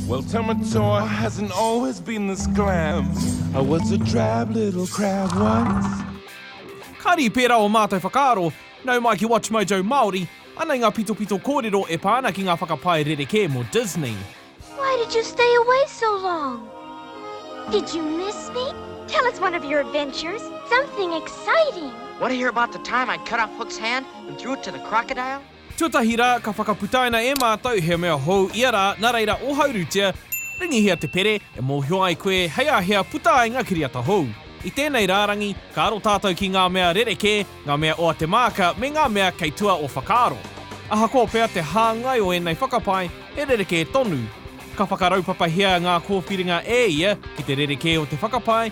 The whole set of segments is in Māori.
Well, Tamatoa hasn't always been this glam. I was a drab little crab once. Kari pera o mātou whakaaro, nau mai ki WatchMojo Māori, anei nga pitopito kōrero e pā ana ki ngā whakapae rerekē mō Disney. Why did you stay away so long? Did you miss me? Tell us one of your adventures, something exciting! Want to hear about the time I cut off Hook's hand and threw it to the crocodile? Tuatahi rā, ka whakaputaina e mātou he mea hou ia rā, nā reira ohaurutia, ringihia te pere e mōhio ai koe hei a hea puta ai ngā kiriata hou. I tēnei rārangi, ka aro tātou ki ngā mea rerekē, ngā mea o a Te Maaka me ngā mea kei tua o whakaaro. Ahakoa pea te hāngai o ēnei whakapae, he rerekē tonu. Ka whakaraupapahia ngā kōwhiringa e ia ki te rerekē o te whakapae,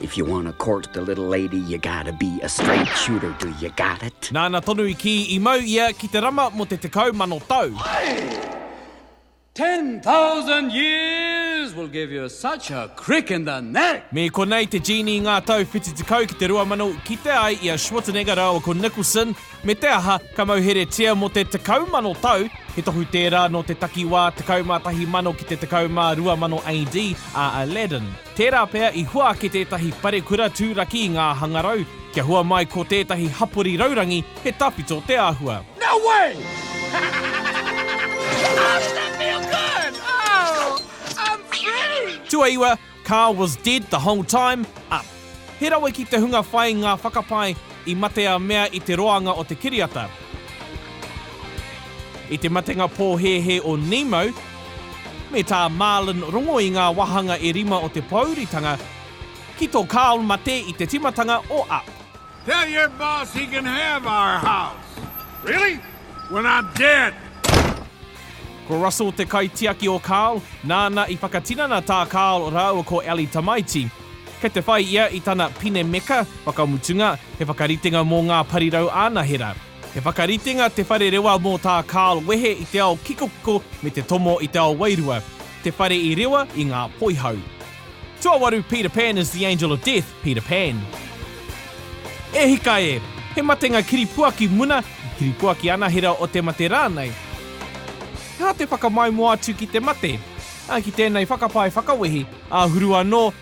If you wanna court the little lady you gotta be a straight shooter, do you got it? Nāna tonu i kī i mau ia ki te rama mō te tekau mano tau. Hi! Ten thousand years will give you such a crick in the neck! Me konei te Genie i ngā tau whitu tekau ki te rua mano kite ai i a Schwarzenegger rāua ko Nicholson, me te aha, ka mauheretia mō te tekau mano tau, he tohu tērā nō te takiwā tekau mā tahi mano ki te tekau mā rua mano AD, a Aladdin. Tērā pea i hua ake tētahi parekura tūraki i ngā hangarau, kia hua mai ko tētahi hapori raurangi he tawhito te āhua. No way! How does that feel good? Oh! I'm free! Tuaiwa, Carl was dead the whole time, up. He rawe ki te hunga whai ngā whakapae i mate a mea i te roanga o te kiriata. I te matenga pōhēhē o Nemo, Me tā Marlin rongo i ngā wāhanga e rima o te pōuritanga ki tō Karl mate i te timatanga o Up. Tell your boss he can have our house. Really? When I'm dead! Ko Russell te kaitiaki o Karl, nāna i whakatinana tā Karl rāua ko Ellie tamaiti. Kei te whai ia i tana pine meka, whakamutunga, he whakaritenga mō ngā parirau anahera. He whakaritenga Te Whare Rewa mō tā Karl wehe i te ao kikokiko me te tomo i te ao wairua, te whare i rewa i ngā poihau. Tuawaru Peter Pan is the angel of death, Peter Pan. E hika e! He matenga kiripuaki muna, he kiripuaki anahera o te mate rānei. He aha te whakamaumua atu ki te mate? Ā, ki tēnei whakapae whakawehi, āhuru anō,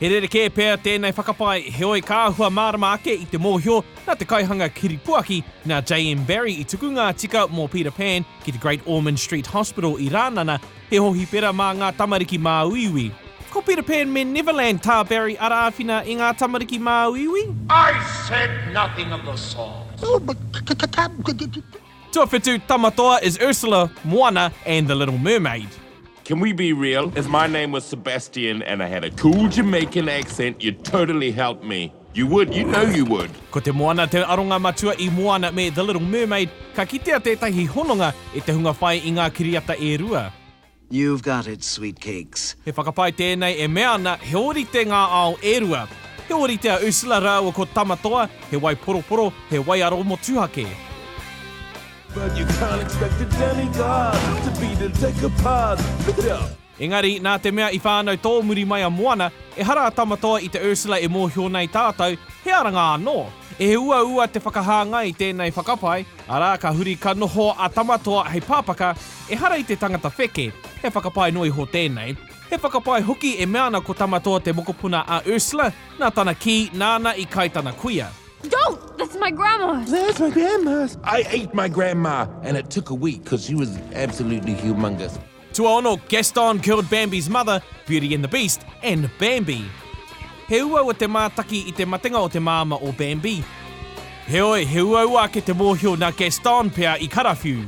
He rerekē pea tēnei whakapae, heoi ka āhua mārama ake i te mōhio nā te kaihanga kiripuaki, nā JM Barrie i tuku ngā tika mō Peter Pan ki te Great Ormond Street Hospital i Rānana, he hohipera mā ngā tamariki māuiui. Ko Peter Pan me Neverland tā Barrie ara āwhina i ngā tamariki māuiui. I said nothing of the sort. Tuawhitu, Tamatoa is Ursula, Moana and the Little Mermaid. Can we be real? If my name was Sebastian and I had a cool Jamaican accent, you'd totally help me. You would, you know you would. Ko te moana te aronga matua i Moana me The Little Mermaid, ka kitea tētahi hononga e te hunga whai i ngā kiriata e rua. You've got it, sweet cakes. He whakapae tēnei e mea ana he ōrite ngā ao e rua. He ōrite a Ursula rāua ko Tamatoa, he wai poroporo, he waiaro motuhake. Engari, nā te mea i whānau tōmuri mai a Moana, ehara a Tamatoa i te Ursula e mōhio nei tātou, he aranga anō. He uaua te whakahāngai i tēnei whakapae, arā, ka huri ka noho a Tamatoa hei pāpaka, ehara i te tangata wheke. He whakapae noa iho tēnei. He whakapae hoki e mea ana ko Tamatoa te mokopuna a Ursula, nā tana kī, nāna i kai tana kuia. Don't! That's my grandma's! That's my grandma's! I ate my grandma and it took a week because she was absolutely humongous. Tuaono, Gaston killed Bambi's mother, Beauty and the Beast, and Bambi. He uaua te mātaki i te matenga o te māma o Bambi. Heoi, he uaua ake te mōhio nā Gaston pea i karawhiu.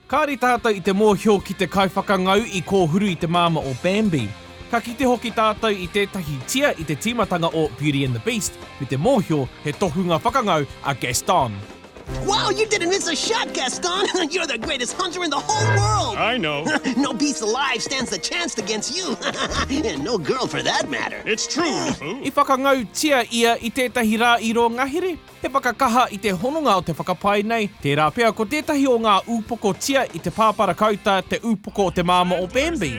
Kāre tātou i te mōhio ki te kaiwhakangau i kōhuru i te māma o Bambi. Ka kite hoki tātou i tētahi tia i te tīmatanga o Beauty and the Beast me te mōhio he tohunga whakangau a Gaston. Wow, you didn't miss a shot, Gaston! You're the greatest hunter in the whole world! I know! no beast alive stands a chance against you! And no girl for that matter! It's true, Lufu! I whakangautia ia i tētahi rā i rō ngahere, he whakakaha i te hononga o te whakapae nei, tērā pea ko tētahi o ngā ūpokotia i te pāpara kauta te ūpoko o te māmā o Bambi.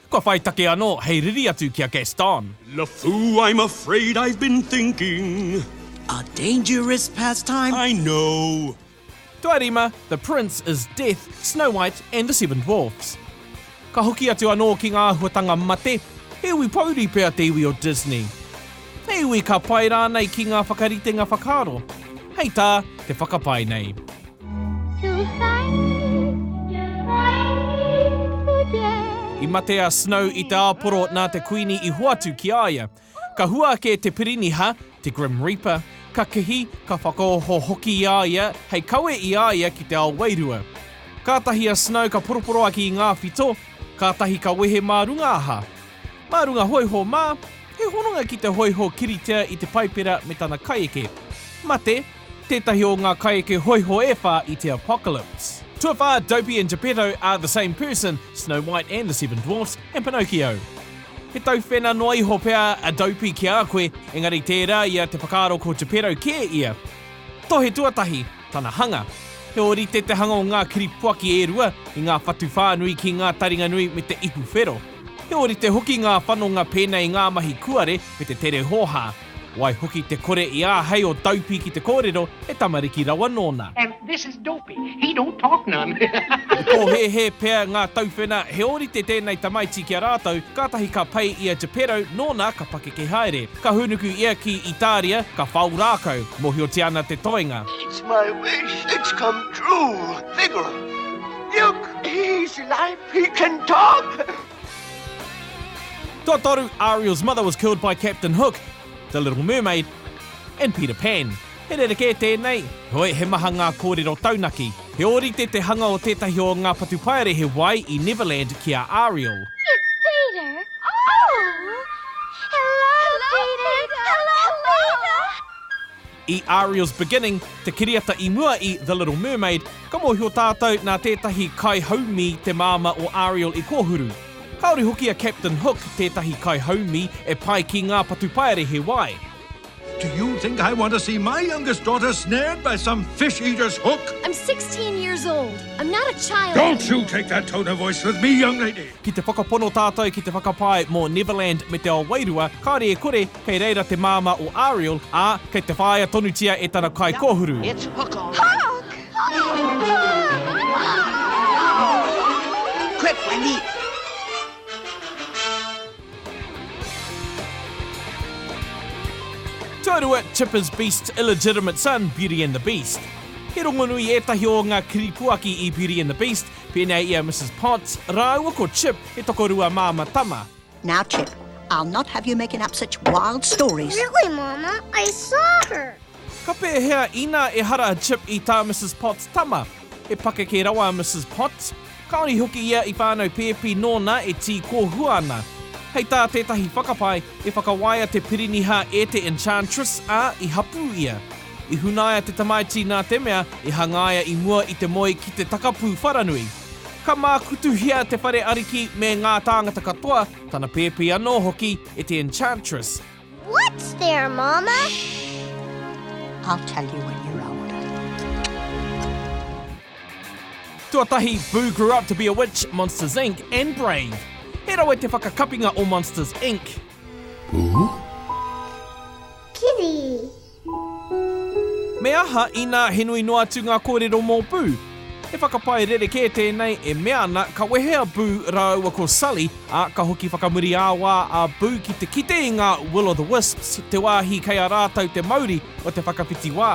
Kua whai take anō hei riri atu ki a Gaston. LeFou, I'm afraid I've been thinking. A dangerous pastime. I know. Tuarima, The Prince is Death, Snow White and the Seven Dwarfs. Ka hoki atu anō ki ngā āhuatanga mate, he iwi pouri pea te iwi o Disney. He iwi ka pai rānei ki ngā whakaritenga whakaaro, hei tā te whakapae nei. I mate a Snow i te āporo nā te Kuini i hoatu ki a ia. Ka hua ake te piriniha, te Grim Reaper, ka kihi, ka whakaoho hoki i a ia hei kawe i a ia ki te ao wairua. Kātahi a Snow ka poroporoaki i ngā whito, kātahi ka wehe mā runga aha. Mā runga hōiho mā, he hononga ki te hōiho kiritea i te Paipera me tana kaieke. Mate, tētahi o ngā kaieke hōiho e whā i te Apocalypse. Tuawhā, Dopey and Geppetto are the same person, Snow White and the Seven Dwarfs, and Pinocchio. He tauwhena noa iho pea a Dopey ki a koe, engari tērā ia te whakaaro ko Geppetto kē ia. Tohe tuatahi, tana hanga. He ōrite te hanga o ngā kiripuaki e rua, i ngā whatu whānui ki ngā taringa nui me te ipu whero. He ōrite hoki ngā whanonga pēnei i ngā mahi kuare me te tere hōhā. Waihoki te kore i āhei o Dopey ki te kōrero he tamariki rawa nōna. And this is Dopey, he don't talk none. I pōhēhē pea ngā tauwhena he ōrite tēnei tamaiti ki a rātou, kātahi ka pai i a Geppetto nōna ka pakeke haere. Ka hūnuku ia ki Itāria, ka whao rākau. Mōhiotia ana te toenga. It's my wish it's come true, Figaro, milk is life. He can talk! Totoru, Ariel's mother was killed by Captain Hook, The Little Mermaid, and Peter Pan. He rerekē tēnei, heoi he maha ngā kōrero taunaki. He ōrite te hanga o tētahi o ngā patupaere he wai i Neverland ki a Ariel. It's Peter! Oh! Hello, Peter! Hello, Peter! I Ariel's Beginning, te kiriata i mua i The Little Mermaid, ka mōhio tātou nā tētahi kaihaumi te māmā o Ariel i kōhuru. Kāore hoki a Captain Hook tētahi kaihaumi e pai ki ngā patupaere he wai. Do you think I want to see my youngest daughter snared by some fish eater's hook? I'm sixteen years old. I'm not a child anymore. Don't you take that tone of voice with me, young lady! Ki te whakapono tātou ki te whakapae mō Neverland me te ao wairua, kāre e kore, Kei reira te māmā o Ariel, ā, kei te whāia tonutia e tana kaikōhuru. Tuarua, Chipper's Beast's Illegitimate Son, Beauty and the Beast. He rongonui ētahi o ngā kiripuaki i Beauty and the Beast, pēnei i a Mrs Potts rāua ko Chip, he tokorua māmā tama. Now Chip, I'll not have you making up such wild stories. Really, Mama? I saw her! Ka pēhea inā ehara a Chip i tā Mrs Potts tama? He pakeke rawa a Mrs Potts. Kāore hoki ia i whānau pēpi nōna e tī kōhua ana. Hei tā tētahi whakapae, i whakawaia te piriniha e te Enchantress, ā, i hapū ia. I hunaia te tamaiti nā te mea, i hangaia i mua i te moe ki te takapū wharanui. Ka mākutuhia te whare ariki me ngā tāngata katoa, tana pēpi anō hoki e te Enchantress. What's there, Mama? Shh! I'll tell you when you're old. Tuatahi, Boo Grew Up to be a Witch, Monsters, Inc. and Brave! He rawe te whakakapinga o Monsters, Inc. Boo? Kitty! Me aha inā he nui noa atu ngā kōrero mō Boo? He whakapae rerekē tēnei e mea ana ka wehe a Boo rāua ko Sully, ā, ka hoki whakamuri ā-wā a Boo ki te kite i ngā Will-o'-the-Wisps, te wāhi kei a rātou te mauri o te whakawhiti wā.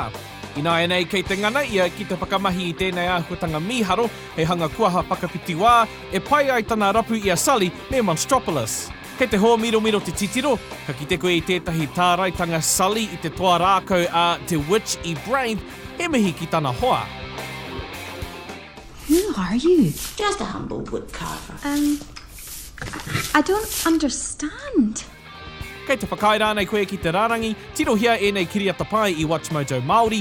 Ināianei kei te ngana ia ki te whakamahi i tēnei āhuatanga mīharo hei hanga kuaha whakawhiti wā e pai ai tana rapu i a Sully me Monstropolis. Kei te hōmiromiro te titiro, ka kite koe i tētahi tāraitanga Sully i te toa rākau a te Witch i Brain, he mihi ki tana hoa. Who are you? Just a humble woodcarver. Um, I don't understand. Kei te whakaae rānei koe ki te rārangi? Tirohia ēnei kiriata pai i WatchMojo Māori,